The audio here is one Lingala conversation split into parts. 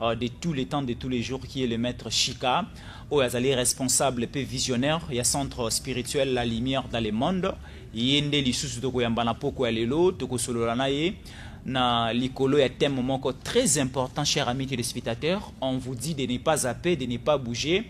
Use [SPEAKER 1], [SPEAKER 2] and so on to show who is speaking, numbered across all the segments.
[SPEAKER 1] euh, de tous les temps de tous les jours qui est le maître Shika oyo azali responsable mpe visionnaire ya centre spirituel la lumière dans le monde ye nde lisusu tokoyamba na poko ya lelo tokosolola na ye na likolo ya thème moko très important cher ami téléspectateur on vous dit de ne pas zapper de ne pas bouger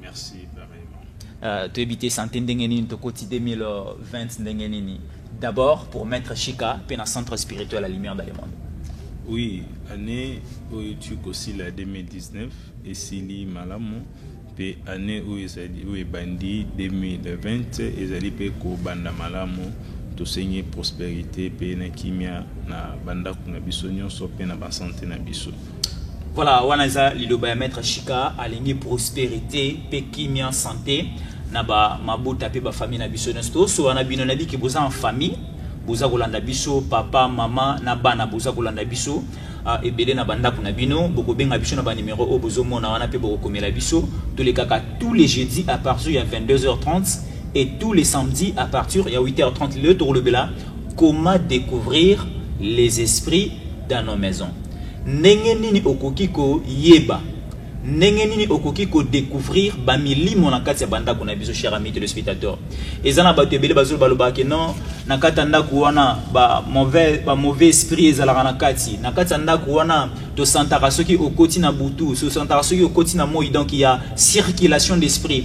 [SPEAKER 2] Merci pareillement. Euh, toyebi te sante
[SPEAKER 1] ndenge nini tokoti 2020 ndenge nini d'abord pour mettre chika mpe na centre spirituel la lumière dans le monde oui
[SPEAKER 2] année oyo tu kosila 2019 esili malamu mpe année oyo ezali oyo ebandi 2020 ezali mpe kobanda malamu tosengi prospérité mpe na kimia na bandako na biso nyonso mpe na basante na biso Voilà, wana
[SPEAKER 1] eza liloba ya maître Shika alingi prospérité pe kimia santé na ba mabota pe ba famille na biso nyonso tosola na bino nayebi ke boza en famille boza kolanda biso papa mama na bana boza kolanda biso uh, ebele na bandako na bino bokobenga biso na banimero oyo bozomona wana mpe bokokomela biso tolekaka tous les jeudi à partir ya 22h30 et tous les samedis à partir ya 8h30 lelo tokolobela comment découvrir les esprits dans nos maisons Ndenge nini okoki koyeba ndenge nini okoki kodecouvrir bamilimo na kati ya bandako na biso cher ami telespectateur eza na bato ebele bazolo balobaka ke non na kati ya ndako wana bamauvais ba mauvais esprit ezalaka na kati na kati ya ndako wana tosantaka soki okoti na butu tosantaka soki okoti na moi donc ya circulation d'esprit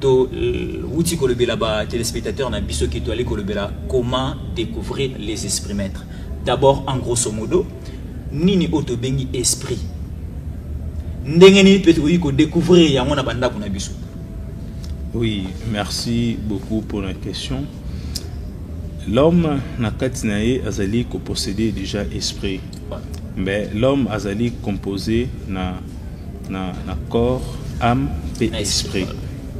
[SPEAKER 1] To wuti kolobela ba telespectateurs na biso ke toali kolobela comment découvrir les esprits maîtres. D'abord en grosso modo nini oyo tobengi esprit ndenge nini mpe tokoki kodécouvrir yango
[SPEAKER 2] na bandako na biso oui merci beaucoup pour la question l'homme na kati na ye azali kopossede déjà esprit mais l'homme azali composé na na, na corps âme mpe esprit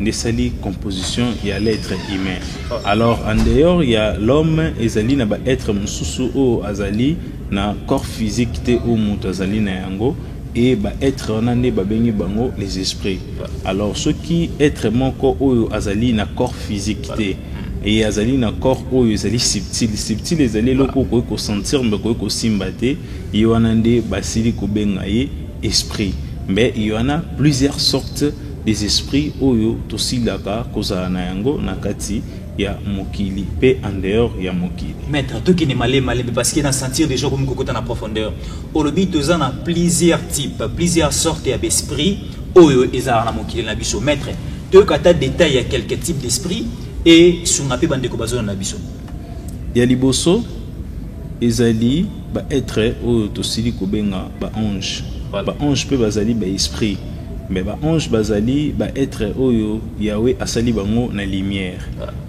[SPEAKER 2] nde esali composition ya l'être humain alors en dehors ya l'homme ezali na baêtre mosusu oyo azali na corps physique te oyo moto azali na yango e baêtre wana nde babengi bango les esprits alors soki être moko oyo azali na corps physique te eye azali na corps oyo ezali subtile subtile ezali eloko okoki kosentir mbe okoki kosimba te ye wana nde basili kobenga ye Esprit mais il y en a plusieurs sortes des esprits oyo tosilaka kozala na yango na kati ya mokili pe en dehors ya mokili maître tokende male
[SPEAKER 1] malembe parce que na sentir déjà komi kokota na profondeur olobi toza na plusieurs types plusieurs sortes ya besprit oyo ezalaka na mokili na biso maître toyoka ata détail ya quelques types d'esprit et sunga mpe bandeko bazona na biso Ya
[SPEAKER 2] liboso, ezali ba etre oyo tosili kobenga ba ange. Ba ange mpe bazali ba esprit mais ba ange bazali ba etre oyo Yahweh asali bango na lumière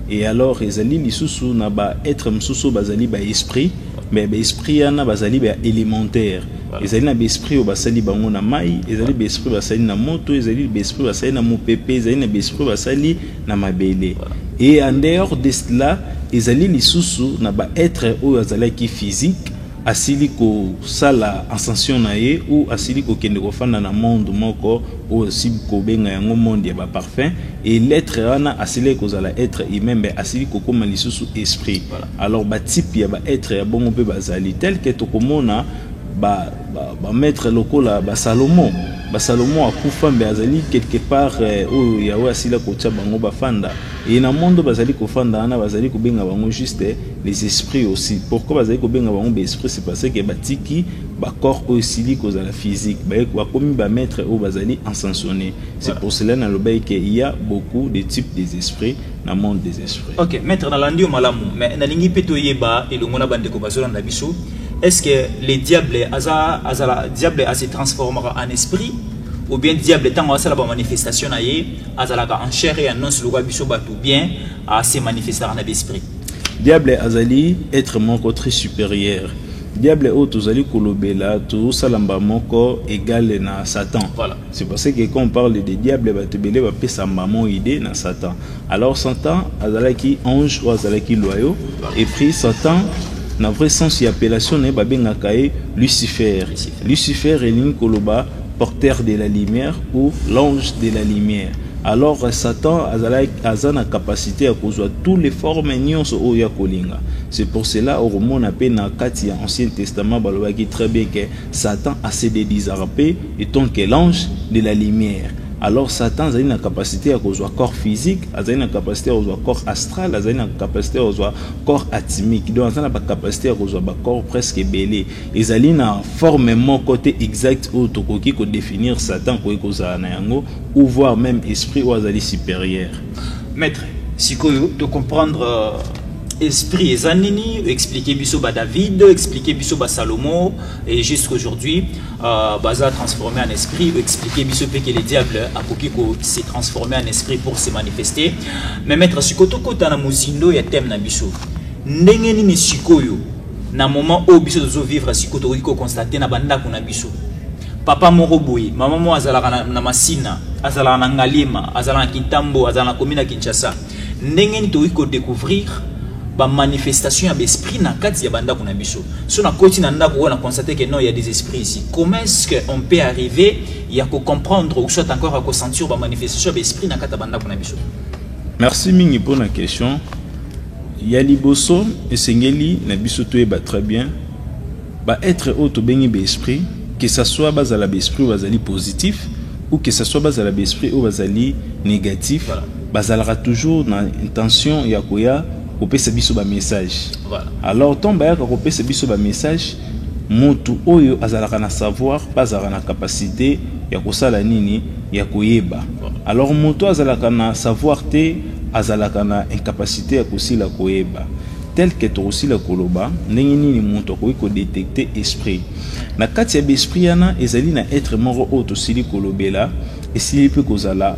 [SPEAKER 2] et alors ezali lisusu na ba etre mosusu bazali ba esprit mais ba esprit yana bazali ba elementaire ezali na ba esprit oyo basali bango na mai ezali ba esprit basali na moto ezali ba esprit basali na mopepe ezali na ba esprit basali na mabele et en dehors de cela ezali lisusu na ba etre oyo azalaki physique asili kosala ascension na ye ou asili kokende kofanda na monde moko oyo sibi kobenga yango monde ya baparfum e letre wana asilaki kozala etre humain mbe asili kokoma lisusu esprit alors batype ya baetre ya bongo mpe bazali telke tokomona ba ba maître lokola ba Salomon ba Salomon akufa mbe azali quelque part eh, oyo Yahweh asila kotia bango bafanda et na mondo bazali kofanda wana bazali kobenga bango juste eh, les esprits aussi pourquoi bazali kobenga bango ba esprits c'est parce que batiki ba corps oyo esili kozala physique bakomi ba maître oyo bazali ensansonné c'est pour cela nalobaki que il y a beaucoup de types des esprits na monde des esprits ok maître nalandi yo
[SPEAKER 1] malamu mais nalingi mpe toyeba elongo na bandeko bazolanda biso est ce que le diable aza azala diable ase transformaka en esprit ou bien diable ntango asala bamanifestation na ye azalaka en chair et annonce lokola biso bato bien ase manifestaka na besprit diable azali
[SPEAKER 2] être moko très supérieur diable oyo tozali kolobela tozosala mba moko egale na satan voilà. C'est parce que quand on parle de diable, bato ebele bapesa maman idée na Satan. Alors Satan azalaki ange ou azalaki loyau et puis Satan na vrai sens ya appellation na ye babengaka ye Lucifer. Lucifer elingi koloba porteur de la lumière ou l'ange de la lumière. Alors Satan azalaki aza na capacité ya kozwa toutes les formes nyonso oyo ya kolinga. C'est pour cela okomona mpe na kati ya Ancien Testament balobaki très bien que Satan a se dedisarpe et ton que l'ange de la lumière alors satan azali na capacité ya kozwa corps physique azali na capacité ya kozwa corps astral azali na capacité ya kozwa corps atimique donc azali na bacapacité ya kozwa bacorps presque ebele ezali na forme moko te exacte oyo tokoki kodéfinir satan koki kozala na yango ou voir même esprit oyo azali supérieur maître
[SPEAKER 1] sikoyo tocomprendre euh, esprit eza nini expliquer biso ba David expliquer biso ba Salomon et jusqu'aujourd'hui euh, baza transformé en esprit expliquer biso pe que le diable akoki ko se transformer en esprit pour se manifester mais maître sikoto kota na mozindo ya thème na biso ndenge nini sikoyo na moment oyo biso tozo vivre sikoyo tokoki ko constater na bandako na biso papa moko boye mama moko azalaka na, na masina azalaka na ngaliema azalaka na kintambo azalaka na komi na kinshasa ndenge nini tokoki kodecouvrir bamanifestation ya baesprit na kati ya bandako na biso so nakoti na ndako oyo na constate que non ya des esprits ici comment est ce que on peut arriver ya kocomprendre ou soit encore ya kosentir bamanifestation ya baesprit na kati ya bandako na biso merci
[SPEAKER 2] mingi mpo na question ya liboso esengeli na biso toyeba très bien baetre oyo tobengi baesprit que ça soit bazala baesprit oyo bazali positif ou que ça soit bazala baesprit oyo bazali négatif voilà. Bazalaka toujours na intention ya koya kopesa biso ba message. Voilà. Alors tant bayaka kopesa biso ba message, mutu oyo azalaka na savoir, pas azalaka na capacité ya kosala nini ya koyeba. Alors mutu azalaka na savoir te azalaka na incapacité ya kosila koyeba tel que tokosila koloba ndenge nini moto akoki kodetecte esprit na kati ya baesprit yana ezali na etre moko oyo tosili kolobela esili mpe kozala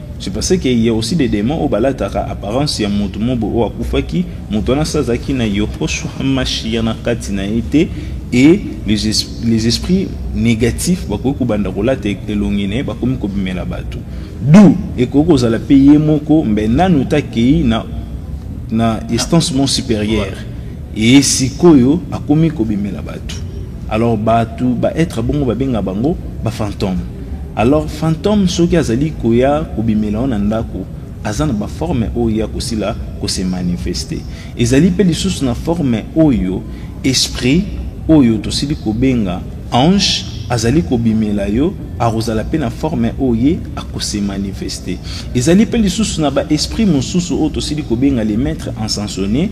[SPEAKER 1] Je pensais
[SPEAKER 2] que il y a aussi des démons oyo balataka apparence ya moto mobo oyo akufaki moto wana sa azalaki na Yehoshua Mashiach na kati na ye te et les, es, les esprits négatifs bakoki kobanda kolata elongi na ye bakomi kobimela bato du ekoki kozala mpe ye moko mbe nanu takei na, na instance mon supérieure Eye sikoyo akomi kobimela batu alors batu ba etre bongo babenga bango ba fantome alors fantome soki azali koya kobimela yo na ndako aza na ba forme oyo ya kosila ko se manifeste ezali pe lisusu na forme oyo esprit oyo tosili kobenga ange azali kobimela yo akozala pe na forme oyo ye ako se manifeste ezali pe lisusu na ba esprit mosusu oyo tosili kobenga le maitre encensonie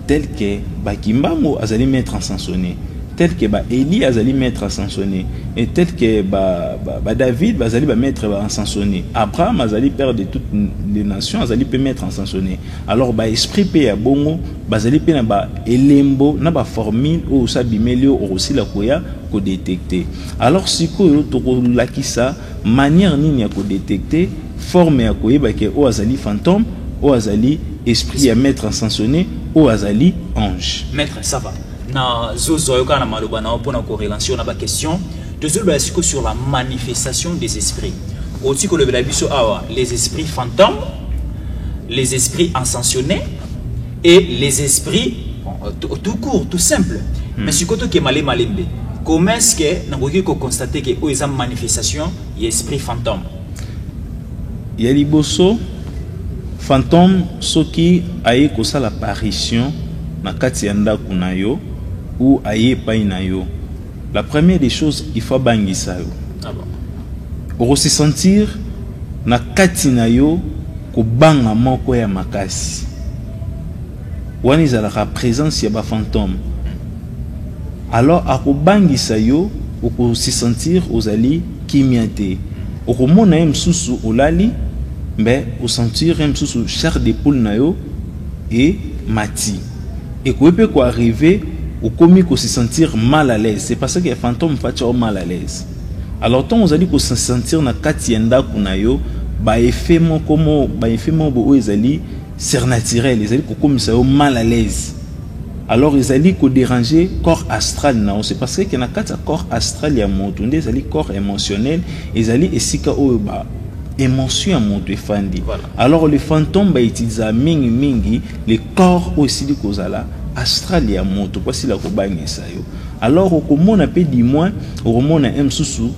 [SPEAKER 2] tel que ba kimbangu azali maître en sansone tel que ba eli azali maître en sansone et tel que ba, ba, ba david bazali ba maître en sansone abraham azali père de toutes les nations azali mpe maître en sansone alors ba esprit mpe ya bongo bazali mpe na ba elembo na ba formule oyo osa bimeli oyo okosila koya kodetecte alors sikoyo tokolakisa Manière nini ya ko detecter forme ya koyeba ke oyo azali fantome, oyo azali esprit ya maitre Encensoner, oyo azali ange? Maitre ça va.
[SPEAKER 1] Na zo zo yo kana maloba na pona ko relancer na ba question. Tozulu ba siko sur la manifestation des esprits. Oti ko lobela biso awa les esprits fantômes, les esprits encensionés, et les esprits euh, tout court tout simple hmm. mais sikoyo tokema le malembe comment est ce que nakoki koconstate ke oyo eza manifestation ya esprit fantôme
[SPEAKER 2] ya liboso fantôme soki aye kosala apparition na kati ya ndako na yo ou aye epai na yo la première des choses il faut abangisa yo ah
[SPEAKER 1] bon. okosi
[SPEAKER 2] sentir na kati na yo Kobanga moko ya makasi. Wana ezalaka presence ya ba fantome. Alors akobangisa yo oko se sentir ozali kimia te. Okomona ye mosusu olali mais o sentir ye mosusu chair de poule na yo e mati. Ekoki pe ko arriver okomi ko se sentir mal à l'aise. C'est parce que fantome fatshi yo mal à l'aise. Alors ntango ozali kosentir na kati ya ndako na yo baeffet moko mo baeffet moko boye oyo ezali surnaturel ezali kokomisa yo mal à l'aise alors ezali koderange corps astral na yo c'est parce que na kati ya corps astral ya moto nde ezali corps émotionnel ezali esika oyo ba émotion ya moto efandi voilà. alors le fantôme bautilisaka mingi mingi le corps oyo esili kozala astral ya moto mpo asila kobangisa yo Alors okomona pe du moins okomona un susu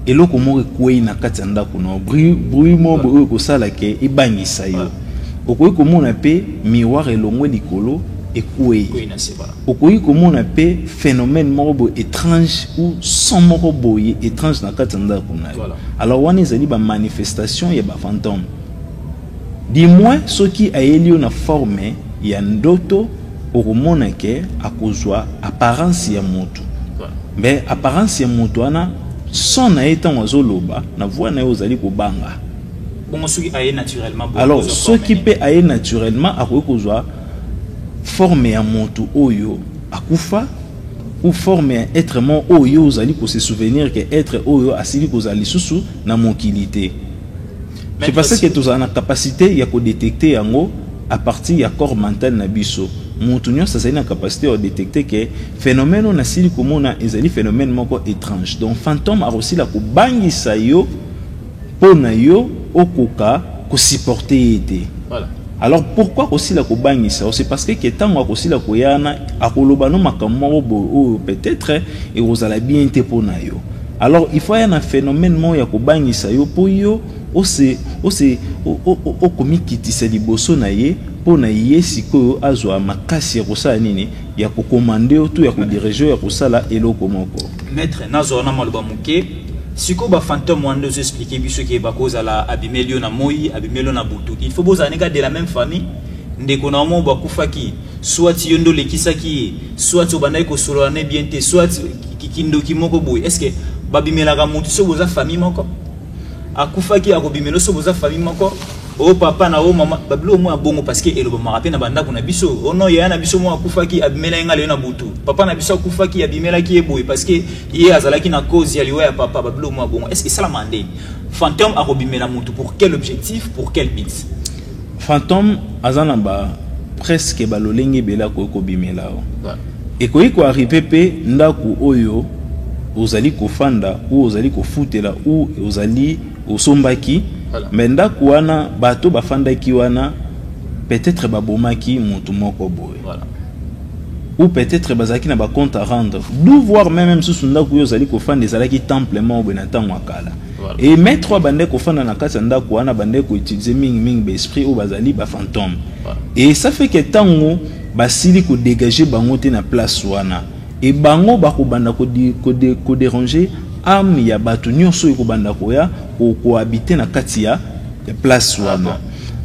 [SPEAKER 2] eloko moko ekwei na kati ya ndako na bruit moko oyo ekosala ke ebangisa yo okoki komona mpe miroir elongwe likolo ekwei okoki komona mpe phénomène moko boye étrange ou son moko boye étrange na kati ya ndako na yo alors wana ezali bamanifestation ya bafantome du moins soki ayeli yo na forme ya ndoto okomona ke akozwa apparence ya mutu mais apparence ya mutu wana son na ye ntango azoloba na voix na ye ozali kobanga bongo soki
[SPEAKER 1] aye naturellement alors soki mpe
[SPEAKER 2] aye naturellement akoki kozwa forme ya moto oyo akufa ou forme ya être moko oyo yo ozali kose souvenir ke être oyo asili kozala lisusu na mokili te C'est parce que tozala na capacité ya ko détecter yango à partir ya corps mental na biso. Mutu nyonso azali na capacité ya détecter que phénomène na sili komona ezali phénomène moko étrange. Donc fantôme akosila kobangisa yo mpo na yo okoka ko supporter ye te. Voilà. Alors pourquoi kosila kobangisa C'est parce que ntango akosila koyana akoloba no makambo moko boye oyo peut-être ekozala bien te mpo na yo. Alors il faut aya na phenomène moko ya kobangisa yo mpo yo ose ose okomikitisa liboso na ye mpo na ye sikoyo azwa makasi ya kosala nini ya kokomande yo to ya kodirige ya kosala eloko moko maître nazwa wana
[SPEAKER 1] maloba moke sikoyo bafantome wana nde ozo explike biso ke bakozala abimeli yo na moi abimeli yo na butu il faut bozala nika de la même famille ndeko na yo moko bakufaki Soit yo nde olekisaki ye, soit obandaki kosolola ne bien te, soit kindoki moko boye. Est-ce que babimelaka moto soki boza famille moko? Akufaki akobimela soki boza famille moko? o oh, papa na o oh, mama babilo mwa bongo parce que elobamaka mpe na bandako na biso o oh, no yaya na biso mwa akufaki abimela ye ngai lelo na butu papa na biso akufaki abimelaki ye boye parce que ye azalaki na cause ya liwa ya papa babilo mwa bongo est ce que esalama nde fantôme akobimela motu pour quel objectif pour quel but Fantome
[SPEAKER 2] aza na ba presque ba lolenge ebele akoki kobimela yo ekoki koarive mpe ndako oyo ozali kofanda ou ozali kofutela ou ozali osombaki voilà. me ndako wana bato bafandaki wana peut-être babomaki motu moko boye voilà. ou peut-être bazalaki na bacompte à rendre d'ou voir meme mosusu ndako oyo ozali kofanda ezalaki temple moko boye na ntango ya kala Et maître oyo abandaki kofanda na kati ya ndako wana abandaki koutilize mingimingi baesprit oyo bazali bafantome et ça fait que ntango basili kodegage bango te na place wana e bango bakobanda koderange ame ya bato nyonso oyo ekobanda koya kohabite na kati ya place ah wana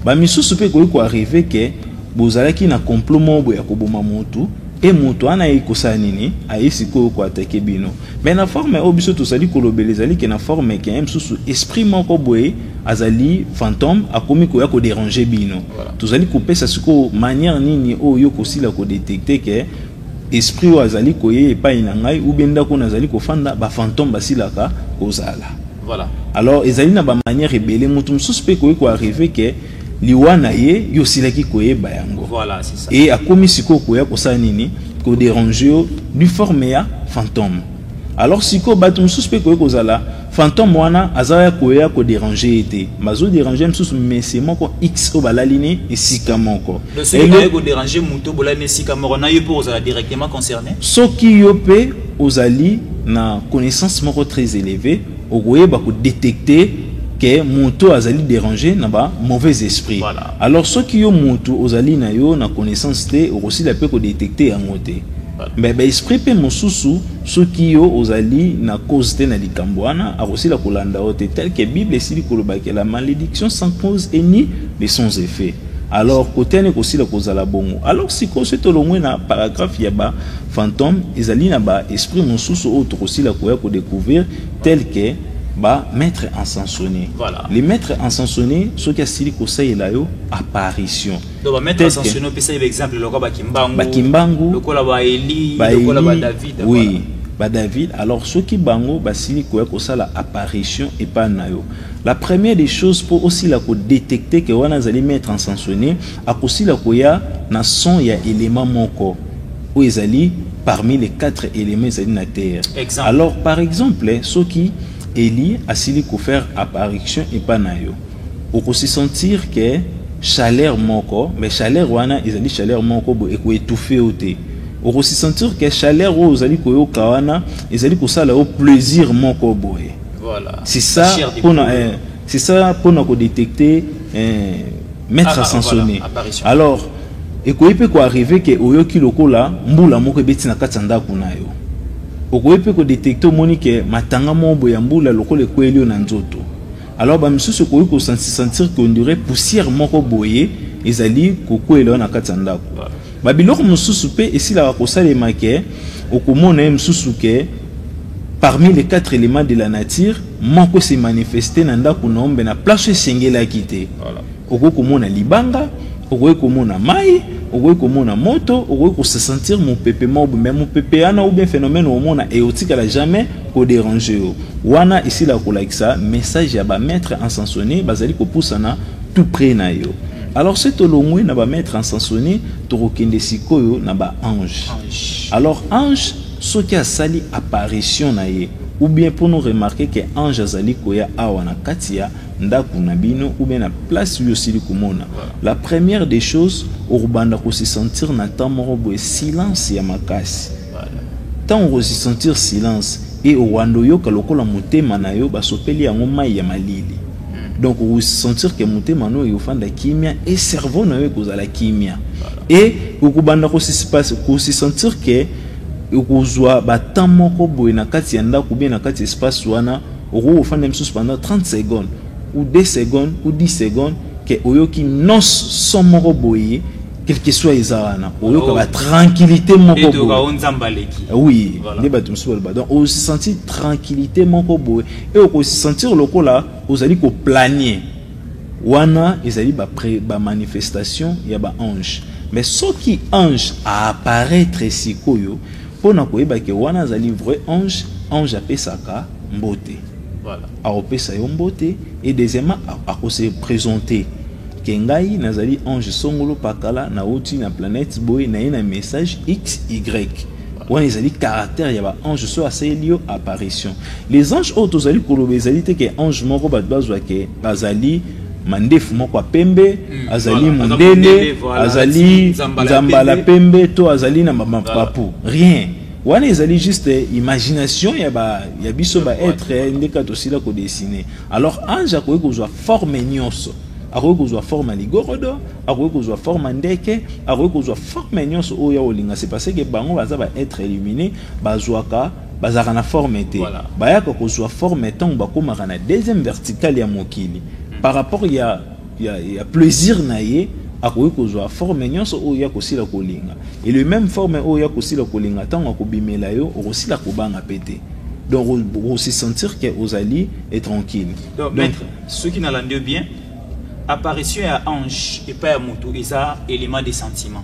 [SPEAKER 2] bamisusu mpe ekoki koarrive ke bozalaki na complot moko boye ya koboma motu e moto wana ayei kosala nini ayei sikoyo koatake bino Mais na forme oyo biso tozali kolobela ezali ke na forme ke mosusu esprit moko boye azali fantome akomi koya koderange bino tozali kopesa sikoyo manière nini oyo yo kosila kodetecte ke esprit oyo azali koye epai na ngai ubie ndako oyo nazali kofanda bafantome basilaka kozala voilà. alors ezali na bamanière ebele moto mosusu mpe ekoki koarrive ke liwa na ye yo osilaki koyeba yango voilà, e akomi
[SPEAKER 1] sikoyo koya
[SPEAKER 2] kosala nini koderange yo du forme ya fantome alors sikoyo bato mosusu mpe koye kozala fantome wana aza ya koya koderange ye te bazoderange mosusu mese moko x oyo balali ne esika moko
[SPEAKER 1] soki yo mpe
[SPEAKER 2] ozali na connaissance moko très élevée Okoyeba ko detecter que mutu oyo azali derange na ba mauvais esprits. Voilà. Alors soki yo
[SPEAKER 1] mutu
[SPEAKER 2] ozali na yo na connaissance te, okosila pe ko detecter yango te. Voilà. Mais ba esprit pe mosusu soki yo ozali na cause te na likambo wana, akosila kolanda yo te tel que Bible esili koloba que la malediction sans cause est ni mais sans effet. Alors kote wana ekosila kozala bongo. Alors sikoyo soki tolongwe na paragraphe ya ba Fantome ezali na ba esprits mosusu oyo tokosila koya ko decouvrir tel que ba maitres encensones. Voilà. Les maitres
[SPEAKER 1] encensones
[SPEAKER 2] soki asili kosalela yo apparition. Donc ba maitres
[SPEAKER 1] encensones opesa ye ba exemple lokola ba Kimbangu. Ba Kimbangu. Lokola
[SPEAKER 2] ba Eli,
[SPEAKER 1] lokola ba David. Oui. Voilà. ba
[SPEAKER 2] David
[SPEAKER 1] alors
[SPEAKER 2] soki bango basili koya kosala apparition epai na yo la première des choses mpo osila kodetecte ke wana azali maître encensionné Akosila koya na son ya element moko oyo ezali parmi les quatre elements ezali na terre. Exemple. Alors par
[SPEAKER 1] exemple
[SPEAKER 2] soki Elie asili ko faire apparition epa na yo, oko se sentir que chaleur moko mais chaleur wana ezali chaleur moko bo eko etouffer yo te. Oko se sentir que chaleur oyo ozali koyoka wana ezali kosala yo plaisir moko boye. Voilà. C'est ça
[SPEAKER 1] La chair de
[SPEAKER 2] pona poule. eh, C'est ça pour nous détecter euh, mettre ah, à sanctionner. Ah, voilà, Alors ekoki mpe koarrive ke oyoki lokola mbula moko ebeti na kati ya ndako na yo okoki mpe kodetekte omoni ke matanga moko boye ya mbula lokola ekweli yo na nzoto alors bamisusu okoki kosentir ke ondire poussière moko boye ezali kokwela yo na kati ya ndako Ba biloko mosusu pe esilaka kosalema ke okomona ye mosusu ke parmi les quatre elements de la nature moko se manifeste na ndaku na ombe na place esengelaki te voilà. okoki komona libanga okoki komona mai okoki komona moto okoki kosesentir mopepe mobo me mopepe wana oubien phénomène omona eotikala jamais koderange yo wana esila kolakisa message ya bamaître ensansonne bazali kopusana tout près na yo Alors se tolongwe na ba maître en sansoni tokokende sikoyo na ba ange alors ange soki asali apparition na ye ou bien mpo no remarke ke ange azali koya awa na kati ya ndako na bino ou bien na place oyo osili komona la première des choses okobanda ko se sentir na temps moko boye silence ya makasi Tango okosi sentir silence et owanda oyoka lokola motema na yo basopeli yango mayi ya malili. Donc o sentir que motema no eofanda kimia et cerveau na yo ekozala kimia. Et okobanda ko se sentir que okozwa ba temps moko boye na kati ya ndaku bien na kati ya espace wana okoki kofanda misusu pendant 30 secondes ou 2 secondes ou 10 secondes que oyoki noise son moko boye quel que soit eza wana oyokaka oh. tranquillité moko eh oui nde bato mosusu baloba donc osentir tranquillité moko boye e okosentir lokola ozali koplanie wana ezali bamanifestation ba ya baange mais soki ange aapparaître sikoyo mpo na koyeba ke wana azali vrai ange ange apesaka mbote Voilà. Akopesa yo mbote et deuxièmement ako se présenter ke ngai nazali Ange Songolo Pakala na uti na planète boye na ye na message XY wana ezali caractère ya ba ange soki asaleli yo apparition les anges oyo tozali koloba ezali te ke ange moko bato bazwa ke bazali mandefu moko ya pembe hmm, azali voilà, mondele azali nzambala pembe to azali na mapapu rien Wana ezali juste imagination ya ba ya biso ba être nde ka tosila ko dessiner. Alors ange akoki kozwa forme nyonso. akoki kozwa forme ya ligorodo akoki kozwa forme ya ndeke akoki kozwa forme nyonso oyo ya kolinga se parce que bango baza ba être illumine bazwaka bazalaka na forme te voilà. bayaka kozwa forme ntango bakomaka na deuxième verticale ya mokili par rapport ya ya, ya plaisir na ye akoki kozwa forme nyonso oyo ye akosila kolinga e le même forme oyo ye akosila kolinga ntango akobimela yo okosila kobanga mpe te donc osi sentir ke ozali e tranquille donc, donc
[SPEAKER 1] soki nalandi yo bien apparition ya ange epai ya moto eza élément de sentiment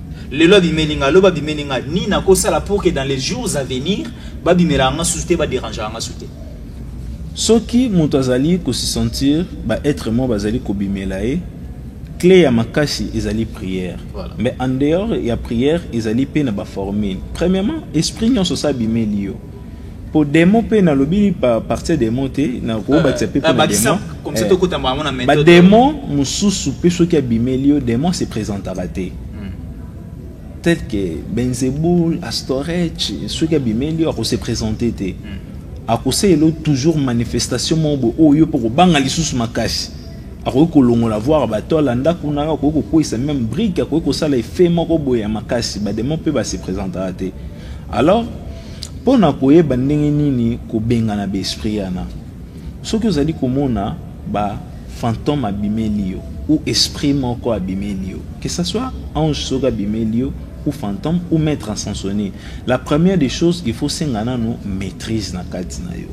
[SPEAKER 1] Lelo abimeli nga, loba abimeli nga, ni na ko sala pour que dans les jours à venir ba bimela nga sous te ba déranger nga sous te.
[SPEAKER 2] Soki moto azali ko se sentir ba être moi bazali ko bimela ye, clé ya makasi ezali prière. Voilà. Mais en dehors ya prière ezali pe na ba formule. Premièrement, esprit nyonso sa bimeli yo. po demon pe nalobi pa partir demon te nakobakisa pe pona demon
[SPEAKER 1] bademon
[SPEAKER 2] mosusu pe soki abimeli yo demon se présentaka te hmm. tel que benzebul astorech soki abimeli yo akose présente te hmm. akosalelo toujours manifestation moko boye oyo yo mpo kobanga lisusu makasi akoki kolongola voir bato alanda kuna akoki kokweyisa meme brike akoki kosala efe moko boye ya makasi bademon mpe base présentaka te Alors, mpo na koyeba ndenge nini kobengana baesprit yana, soki ozali komona ba fantome abimeli yo ou esprit moko abimeli yo, que ça soit ange soki abimeli yo ou fantome ou maître ascensionne, la première des choses il faut senga nanu maîtrise na kati na yo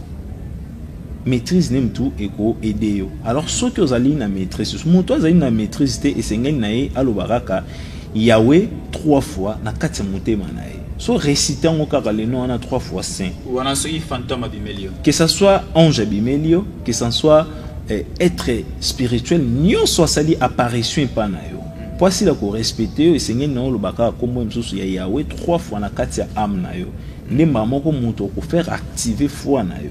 [SPEAKER 2] maîtrise nde motu ekoaide yo alors soki ozali na maîtrise motu azali na maîtrise te esengeli na ye aloba kaka Yawe trois fois na kati ya motema na ye. So recite yango kaka le nom wana trois fois saint. Wana soki fantôme
[SPEAKER 1] abimeli yo. Que ça soit
[SPEAKER 2] ange abimeli yo, que ça soit eh, être spirituel nyonso asali apparition epai na yo. Mpo asila korespecte yo esengeli na yo oloba kaka nkombo mosusu ya Yawe trois fois na kati ya ame na yo. Nde mbala moko moto okofaire active foi na yo.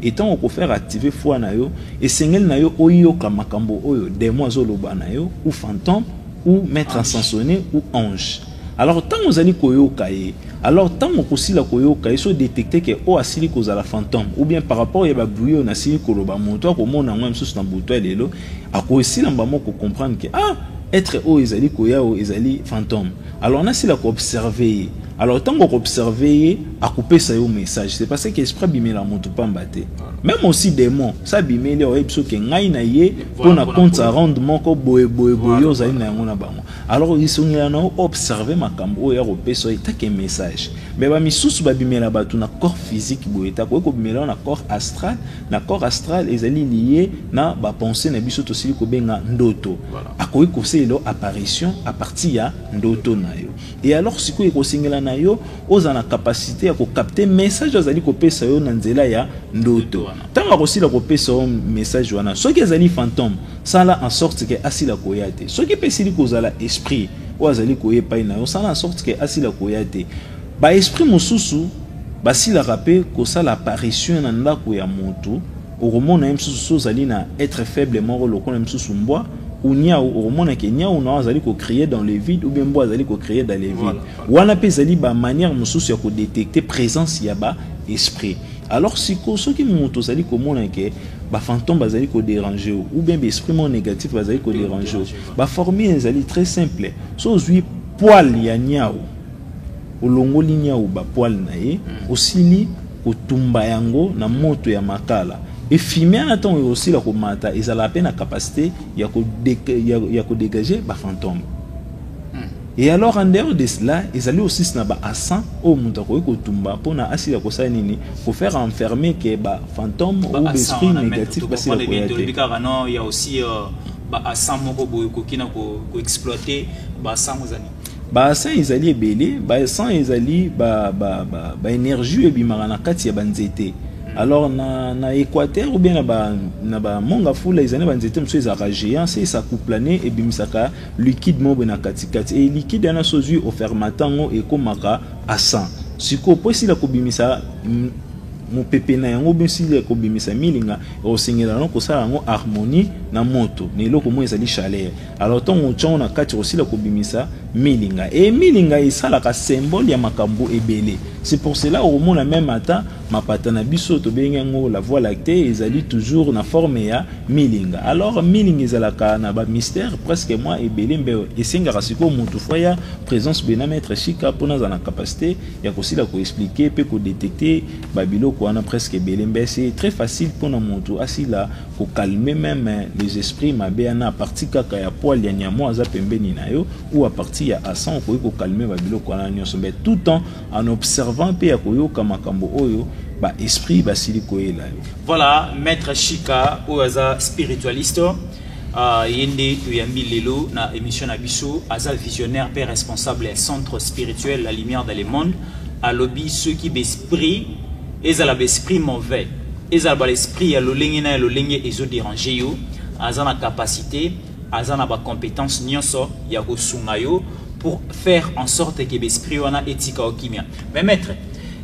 [SPEAKER 2] Et tant qu'on faire activer foi na yo, et sengel na yo oyoka makambo oyo démon azoloba na yo ou fantôme ou maître ascensionne ou ange alors ntango ozali koyoka ye alors ntango okosila koyoka ye so détecte ke oyo asili kozala fantôme ou bien par rapport ya babruit oyo nasili koloba moto akomona yango ya mosusu na butu ya lelo akosila mbamo kocomprendre ke ah être oyo ezali koya oyo ezali fantôme alors nasila koobserve ye alors ntango okoobserve ye akopesa yo message c'est parce que esprit abimela moto mpamba te même aussi démon sa abimeli oyebi so ke ngai na ye mpo na compte à rendre moko boye boye boye ozali na yango na bango alors lisongela na yo observe makambo oyo ya kopesa yo etake message me bamisusu babimela bato na corps physique boye ete akoki kobimela yo na corps astral na corps astral ezali liye na bapense na biso tosili kobenga ndoto akoki kosalela yo apparition à partir ya ndoto na yo e alors sikoyo ekosengela na yo ozala na capacité ya kokapte message azali kopesa yo na nzela ya ndoto Ntango akosila kopesa yo message wana, soki ezali fantome, sala en sorte ke asila koya te. Soki mpe esili kozala esprit oyo azali koya epai na yo, sala en sorte ke asila koya te. Ba esprit mosusu basilaka mpe kosala apparition na ndako ya moto, okomona ye mosusu so ozali na être faible moko lokola mosusu mbwa ou niawu okomona ke niawu na yo azali kocrie dans le vide ou bien mbwa azali kocrie dans le vide. Wana mpe ezali ba manière mosusu ya kodetecte presence ya ba esprit. Alors siko soki moto ozali komona ke ba fantôme bazali ko déranger ou bien ba esprit mo négatif bazali ko déranger ba formule ezali très simple so ozui poil ya niao olongoli niao ba poil na ye hmm. osili kotumba yango na moto ya makala efime wana ntango ekosila komata ezalaka mpe na capacité ya kodégage bafantome Et alors en dehors de cela, ils allaient aussi na ba assants au mutu akoki kotumba pona asila kosala nini ko faire enfermer que ba fantômes ou esprit négatif basila koya te. Bikaka non,
[SPEAKER 1] il y a aussi euh, ba assants moko boye koki na ko exploiter ba assants ozali. Ba assants ezali
[SPEAKER 2] ebele, ba assants ezali ba ba ba, ba énergie ebimaka na kati ya ba nzete. Mm. alors na, na équateur ou bien na ba, na ba mongafula ezali ba nzete mosusu ezalaka géant se esakuplane ebimisaka liquide moko boye na katikati e liquide wana so ozwi ofermate yango ekomaka asan sikoyo mpo esila kobimisa mopepe na yango bosili ya kobimisa milinga osengela yango kosala yango harmonie na moto na eloko moko ezali chaleur alors ntango otyango na kati kosila kobimisa milinga e milinga esalaka symbole ya makambo ebele c'est pour cela okomona meme ata mapata na biso tobengi yango la voie lactée ezali toujours na forme ya milinga alors milinga ezalaka na bamystère presque mwa ebele mbe esengaka sikoyo motu fo ya présence bena maître shika mpona azala na capacité ya kosila koexplike mpe kodetecte babiloko wana presque ebele mbe se très facile mpona motu asila kokalme meme les esprits mabe yana aparti kaka ya poil ya nyamo aza pembeni na yo ou aparti ya asan okoki kokalme babiloko wana nyonso mbe tout temps en observant mpe ya koyoka makambo oyo baesprit basili koyela yo voilà
[SPEAKER 1] maître shika oyo aza spiritualiste uh, ye nde toyambi lelo na émission na biso aza visionnaire mpe responsable ya centre spirituel la lumière dans le monde alobi soki baesprit ezala baesprit mauvais ezala baesprit ya lolenge na ya lolenge ezoderange yo aza na capacité aza na ba compétences nionso ya kosunga yo pour faire en sorte que l'esprit wana etika okimia mais maître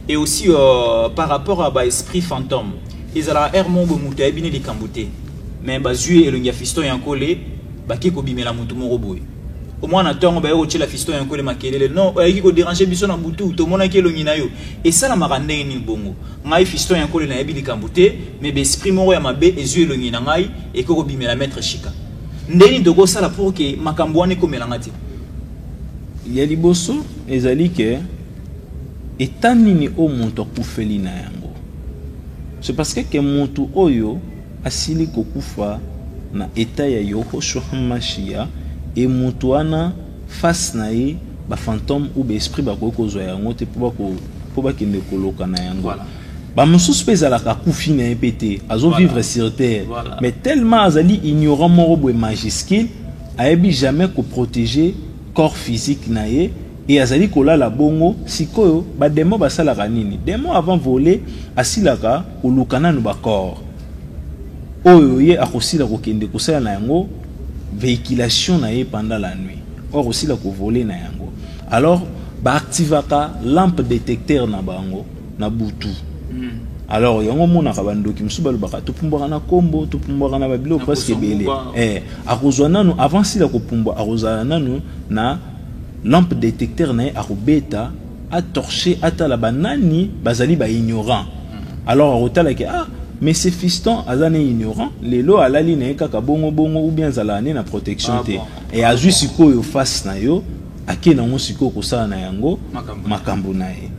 [SPEAKER 1] et aussi euh, par rapport à ba esprit fantôme ezalaka heure moko boye moto ayebi ne likambo te mais bazwi elongi ya fiston ya nkole bake kobimela moto moko boye omwana ntongo baye kotyela fiston ya nkole makelele non oyaki koderange biso na butu tomonaki elongi na yo esalamaka ndenge nini bongo Ngai fiston ya kole nayebi likambo te mais ba esprit moko ya mabe ezui elongi na ngai eke kobimela maitre shika ndeni tokosala pour que makambo wana ekomela ngai te
[SPEAKER 2] ya liboso ezali ke eta nini oyo moto akufeli na yango c'est parce que ke moto oyo asili kokufa na eta ya yohoshua mashiya e moto wana Face na ye ba fantome ou ba esprit ba koki kozwa yango te po ba kende koloka na yango. Voilà. Ba mususu pe ezalaka akufi na ye pe te. Azo voilà. vivre sur terre. Voilà. Mais tellement azali ignorant moko boye majuscule ayebi jamais ko protéger corps physique na ye et azali kolala bongo sikoyo ba demon basalaka nini demon avant voler asilaka koluka nanu ba corps oyo ye akosila kokende kosala na yango vehiculation na ye pendant la nuit oyo akosila kovole na yango alors baactivaka lampe detecteur na bango na butu hmm. alors yango omonaka bandoki mosusu balobaka topumbwaka na nkombo topumbwaka na babiloko presque ebele eh, akozwa nanu avant sila kopumbwa akozala nanu na lampe detecteur na ye akobeta a torcher atala ba nani bazali ba ignorant alors akotala ke ah mais c'est fiston aza ne ignorant lelo alali na ye kaka bongo bongo ou bien azalaka ne na protection ah te e azwi sikoyo face na yo ake nango sikoyo kosala na yango makambo na ye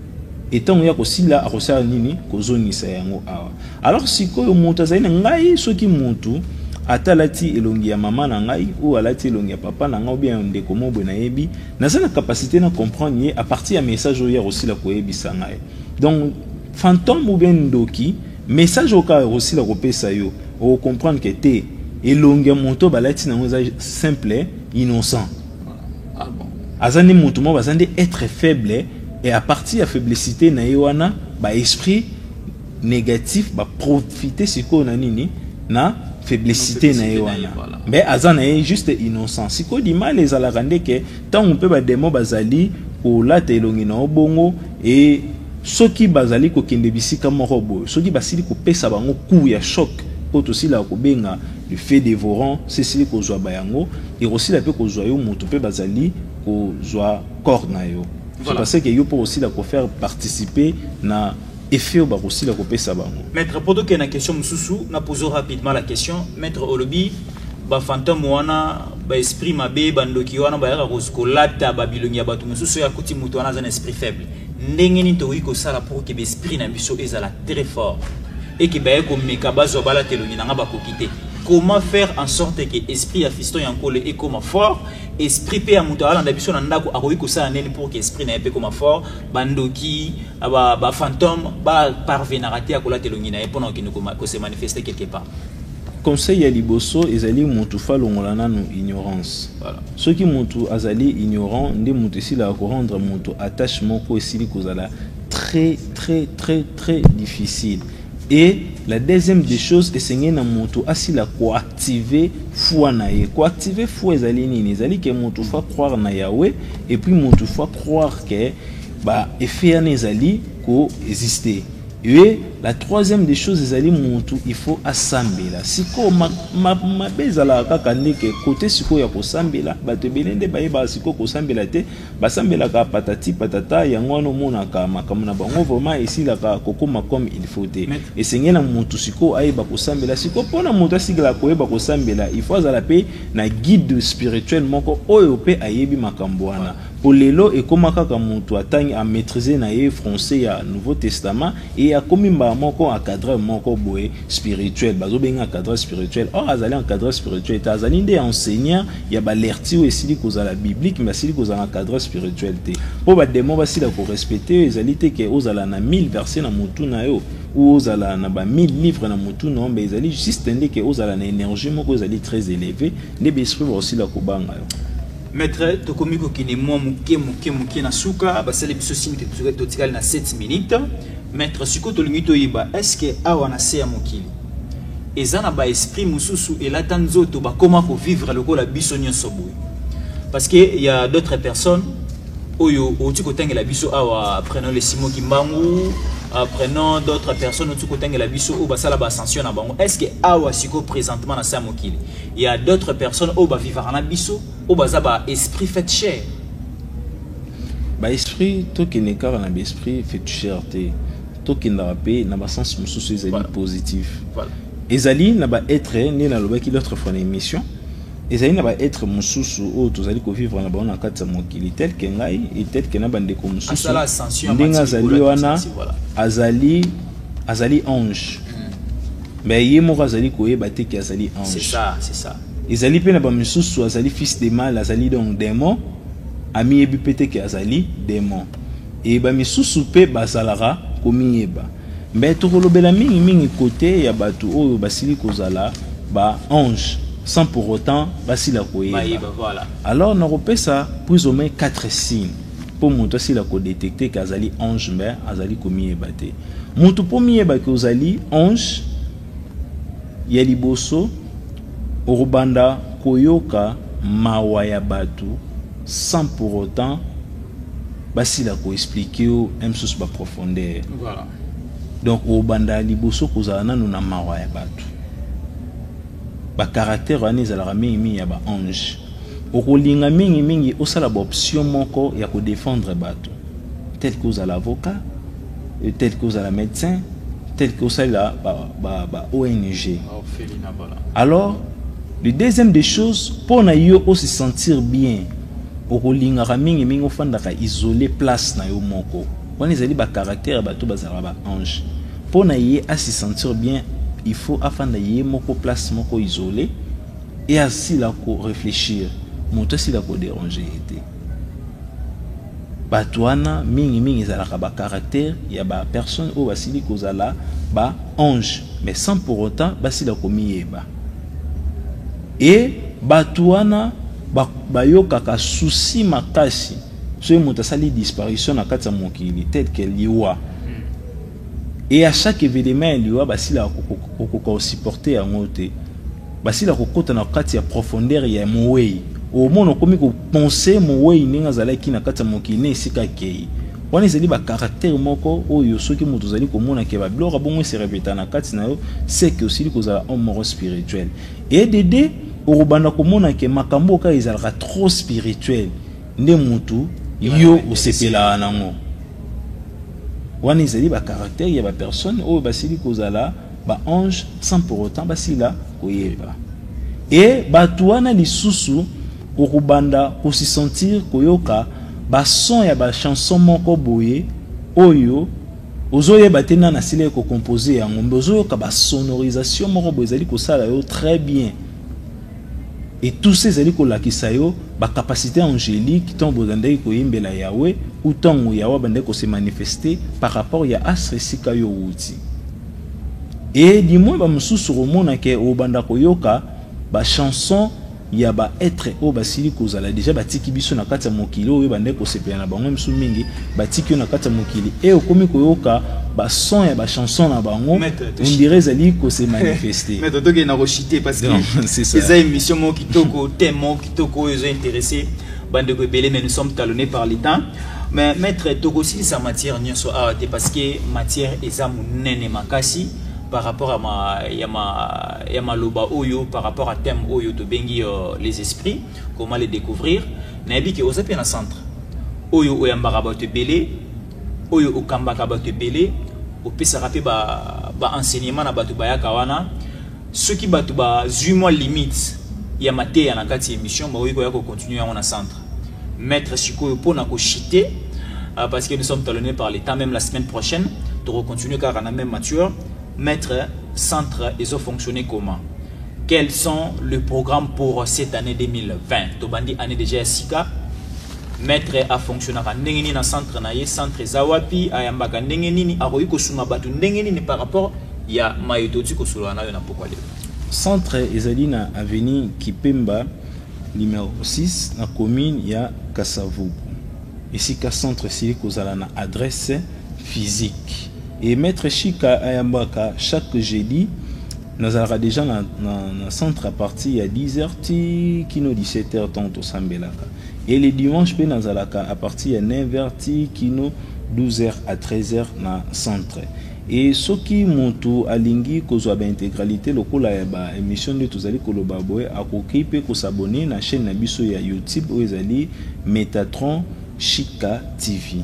[SPEAKER 2] etango ya kosila akosala nini kozongisa yango awa alors sikoyo moto azali na ngai soki motu ata alati elongi ya mama na ngai ou alati elongi ya papa na ngai ou bien ndeko mobwe nayebi Naza na capacité na comprendre ye à partir ya message oyo akosila koyebisa ngai. Donc fantôme ou bien ndoki message oyo kaka akosila kopesa yo okocomprendre ke te elongi ya moto balati nango eza simple innocent ah aza nde moto moko baza nde être faible et à partir ya faiblicité na ye wana ba esprit negatif ba profiter sikoyo na nini na faiblicité na ye wana mais aza na ye juste innocent sikoyo limala ezalaka nde ke ntango mpe bademo bazali kolata elongi na yo bongo e soki bazali kokende bisika moko boye soki basili kopesa bango coup ya choc oyo tosilaka kobenga le fait dévorant sesili kozwa bayango ekosila mpe kozwa yo moto mpe bazali kozwa corps na yo voilà. parce que yo mpo osila kofaire participer na effet oyo bakosila kopesa bango maître mpo tokende na
[SPEAKER 1] question mosusu na pozo rapidement la question maître olobi bafantome wana baesprit mabe bandoki wana bayaka kolata babilongi ya bato mosusu oyo akuti moto wana aza na esprit faible ndenge nini tokoki kosala pour ke baesprit na biso ezala très fort eke baye komeka bazwa balata elongi na ngai bakoki te comment faire en sorte ke esprit ya fiston ya nkole ekoma fort esprit mpe ya moto alanda biso na ndako akoki kosala nini pour ke esprit na ye mpe ekoma fort bandoki ba, ba fantôme ba parvenaka te ya kolata elongi na ye mpo na kokende kose manifeste quelque part conseil
[SPEAKER 2] ya liboso ezali mutu fa longola nanu ignorance voilà. soki mutu azali ignorant nde mutu esilaka korendre mutu attache moko esili kozala très très très très difficile et la deuxième des choses esengeli na mutu asila koactive foi na ye koactive foi ezali nini ezali ke mutu fa croire na yawe et puis mutu fa croire ke Ba effet yana ezali ko existe ye la troisième des choses ezali mutu il faut asambela sikoyo mabe ezalaka kaka nde ke kote sikoyo ya kosambela bato ebele nde bayebaka sikoyo kosambela te basambelaka patati patata yango wana omonaka makambo na bango vraiment esilaka kokoma comme il faut te esengeli na mutu sikoyo ayeba kosambela sikoyo mpona moto asigala koyeba kosambela il faut azala mpe na guide spirituel moko oyo mpe ayebi makambo wana Po lelo ekoma kaka mutu atangi a maitriser na ye français ya nouveau testament et akomi mbala moko encadreur moko boye spirituel, bazo benga encadreur spirituel or azali encadreur spirituel te, azali nde enseignant ya ba lertures oyo esili kozala biblique mais asili kozala encadreur spirituel te. Po ba demons basila ko respecter yo, ezali te ke ozala na 1000 versets na mutu na yo ou ozala na ba 1000 livres na mutu na yo mais ezali juste nde ke ozala na energie moko ezali très elevee nde ba esprits bakosila kobanga yo. Maitre,
[SPEAKER 1] tokomi kokende mwa moke moke moke na suka basali biso signe ke tozoki totikali na 7 minutes maitre sikoyo tolingi toyeba eske awa na se ya mokili eza na baesprit mosusu elata nzoto bakoma kovivre lokola biso nyonso boye parce que ya d'autres personnes oyo outi kotangela biso awa prenons le simo kimbangu euh, prenons d'autres personnes outi kotangela biso oyo basala baascension na bango est ce que awa sikoyo présentement na se ya mokili Il y a d'autres personnes au bas vivre en biso, au bas ba esprit fait cher.
[SPEAKER 2] Ba esprit to qui n'est qu'à un esprit fait cher té. To qui n'a pas na ba sens mususu souci voilà. positif. Voilà. Ezali
[SPEAKER 1] na ba
[SPEAKER 2] être né na loba qui l'autre fois l'émission. ezali na baetre mosusu oyo tozali kovivre na bango na kati ya mokili tel ke ngai e tel ke na bandeko mosusu ndenge azali wana azali azali ange Mais ye moko azali koyeba te ki azali ange. C'est ça, c'est ça.
[SPEAKER 1] Ezali pe na ba
[SPEAKER 2] misusu azali fils de mal, azali donc demon, amiyebi pe te ki azali demon. Et ba misusu pe bazalaka komiyeba. Mais tokolobela mingi mingi cote ya batu oyo basili kozala ba ange sans pour autant basila koyeba. Bayeba, voilà. Alors
[SPEAKER 1] nakopesa
[SPEAKER 2] plus ou moins 4 signes. mpo moto asila kodetecte ke azali ange mbe azali komiyeba te moto mpo miyeba ke ozali ange ya liboso okobanda koyoka mawa ya bato sans pour autant basila koexplike yo msusu baprofondeur voilà.
[SPEAKER 1] donc
[SPEAKER 2] okobanda liboso kozala nano na mawa ya bato bacaractère wana ezalaka mingimingi ya baange Okolinga mingi mingi osala ba option moko ya ko defendre bato tel que ozala avocat, euh, tel que ozala medecin, tel que osalela ba, ba, ba ONG. Alors, le deuxième des choses, mpo na yo ose sentir bien okolingaka mingi mingi ofandaka isole place na yo moko wana ezali bacaractère ya bato bazalaka baange mpo na ye asi sentir bien il faut afanda ye moko place moko isole et asila ko reflechir moto asila ko deranger ye te bato wana mingi mingi ezalaka ba caractère ya ba personne oyo basili kozala ba ange mais sans pour autant basila komiyeba e bato wana bayokaka ba susi makasi soki moto asali disparition na kati ya mokili tel que liwa Et à chaque événement ya liwa basila kokoka osupporte yango te basila kokota na kati ya profondeur ya mowei omona okomi kopense mowei ndenge azalaki na kati ya mokili na esika akei wana ezali bacaractère moko oyo soki moto ozali komona ke babiloko bongo eserepeta na kati na yo seke osili kozala homme moko spirituel edede okobanda komona ke makambo oyo kaka ezalaka trop spirituel nde mutu yo osepelaka nango wana ezali ba caractère ya ba personne oyo basili kozala ba ange sans pour autant basila koyeba e bato wana lisusu okobanda kosisentir koyoka bason ya bachanson moko boye oyo ozoyeba te nani asilaki kocompose yango mbe ozoyoka basonorisation moko boye ezali kosala yo très bien Etusa ezali kolakisa yo ba capacites angeliques tango bozandaki koyembela Yahweh ou tango Yahweh abandaki ko se manifester par rapport ya astre esika yo owuti. Et du moins ba mosusu okomona ke okobanda koyoka ba chansons ya ba etres oyo basili kozala dejà batiki biso na kati ya mokili oyo ebandaki kosepela na bango, misu mingi batiki yo na kati ya mokili e okomi koyoka bason ya bachanson na bango ondire ezali kose manifeste maître tokende na kochite
[SPEAKER 1] parce que eza émission moko kitoko thème moko kitoko oyo ezo intéressé bandeko ebele mais nous sommes talonnés par le temps mais maître tokosilisa matière nyonso awa te parce que matière eza monene makasi par rapport à ma, ya ma, ya maloba oyo par rapport à thème oyo tobengi uh, les esprits comment les découvrir nayebi ke oza mpe na centre oyo oyambaka bato ebele oyo okambaka bato ebele opesaka mpe baenseignement ba na bato bayaka wana soki bato bazwi mwa limite ya mateya na kati ya émission bakoki koya kocontinue yango na centre maître sikoyo mpo na kochite euh, parce que nous sommes talonnés par l'état même la semaine prochaine tokocontinue kaka na même mature maître centre ezofonctionne comment Quels sont le programme pour cette année 2020 Tobandi année déjà ya sika. Maître a fonctionnaka ndenge nini na centre na ye, centre eza wapi, ayambaka ndenge nini, akoki kosunga bato ndenge nini par rapport ya maye toti kosolola nayo na pokwa lelo. Centre
[SPEAKER 2] ezali na avenue Kipemba numéro 6 na commune ya Kasavubu. Esika centre esili kozala na adresse physique. Et Maître Shika ayambaka chaque jeudi nazalaka deja na, na, na centre à partir ya 10h ti kino 17h ntango tosambelaka e le dimanche mpe nazalaka à partir ya 9h ti kino 12h à 13h na centre e soki motu alingi kozwa baintégralité lokola ya baémission nde tozali koloba boye akoki mpe kosabone na chaîne na biso ya youtube oyo ezali metatron shika tv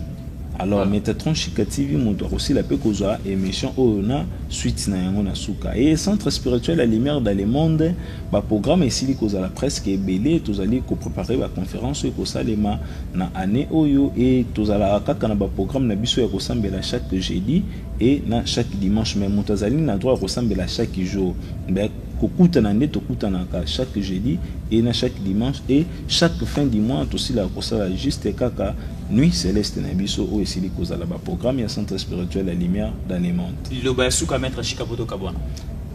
[SPEAKER 2] Alors Metatron Chica TV moto akosila pe kozwa emission oyo na suite na yango na suka. Et Centre Spirituel la Lumière dans le Monde ba programme esili kozala presque ebele tozali ko préparer ba conférence oyo ekosalema na année oyo et tozalaka kaka na ba programme na biso ya kosambela chaque jeudi et na chaque dimanche mais moto azali na droit ya kosambela chaque jour. Mais kokutana nde tokutanaka chaque jeudi et na chaque dimanche et chaque fin du mois tosilaka kosala juste kaka Nuit Celeste na biso oyo esili kozala ba programme ya centre spirituel ya lumière d'Anemante. Liloba ya suka maître
[SPEAKER 1] Chika Poto Kabwana.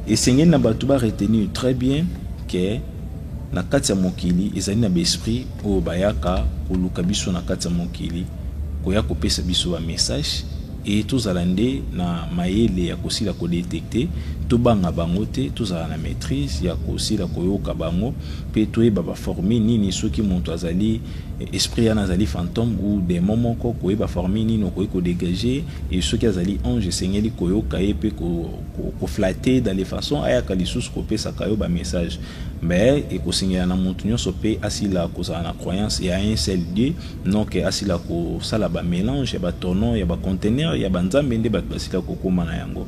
[SPEAKER 1] Esengeli na
[SPEAKER 2] bato ba retenir très bien que na kati ya mokili ezali na baesprit oyo bayaka koluka biso na kati ya mokili koya kopesa biso ba message e tozala nde na mayele ya kosila kodetekte tobanga bango te tozala na maîtrise ya kosila koyoka bango mpe toyeba baforme nini soki moto azali esprit yana azali fantome ou demo moko koyeba formi nini okoki kodegage e soki azali ange esengeli koyoka ye mpe koflate ko dans les façons ayaka lisusu kopesaka yo bamessage mais ekosengela na moto nyonso mpe asila kozala na croyance ya un seul dieu non ke asila kosala bamélange ya batono ya bacontener ya banzambe nde bato basila kokóma na yango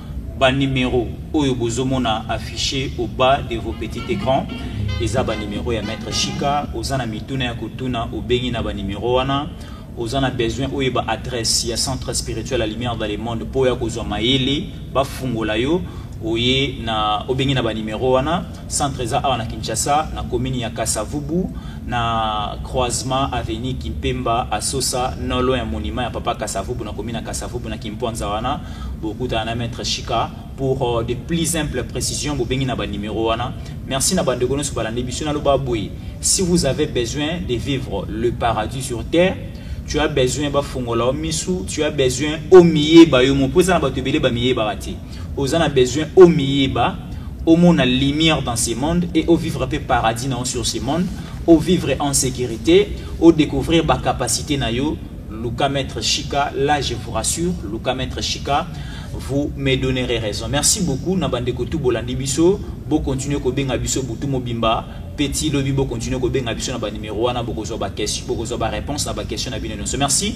[SPEAKER 1] Ba numero oyo bozo mona affiche au bas de vos petits ecrans eza ba numero ya maître Shika oza na mituna ya kotuna obengi na ba numero wana oza na besoin oyeba adresse ya centre spirituel la lumière dans le monde mpo ya kozwa mayele bafungola yo oye na obengi na ba numero wana Centre eza awa na Kinshasa na commune ya Kasavubu na croisement avenue Kimpemba Asosa non loin ya monument ya papa Kasavubu na commune ya Kasavubu na Kimpwanza wana bokutana na maître Shika pour euh, de plus simples précisions bobengi na ba numéro wana merci na bande kono subala biso na loba boye si vous avez besoin de vivre le paradis sur terre tu as besoin bafungola misu tu as besoin omiyeba yo mopoza na bato ebele bamiyebaka te oza na besoin omiyeba omona lumière dans ce monde et au vivre un peu paradis na sur ce monde au vivre en sécurité au découvrir ba capacité na yo Luka Maître Chica là je vous rassure Luka Maître Chica vous me donnerez raison merci beaucoup na bande ko tout bolandi biso bo continuer ko benga biso butu mobimba petit lobi bo continuer ko benga biso na ba numéro wana bokozwa ba question bokozwa ba réponse na ba question na bino nyonso merci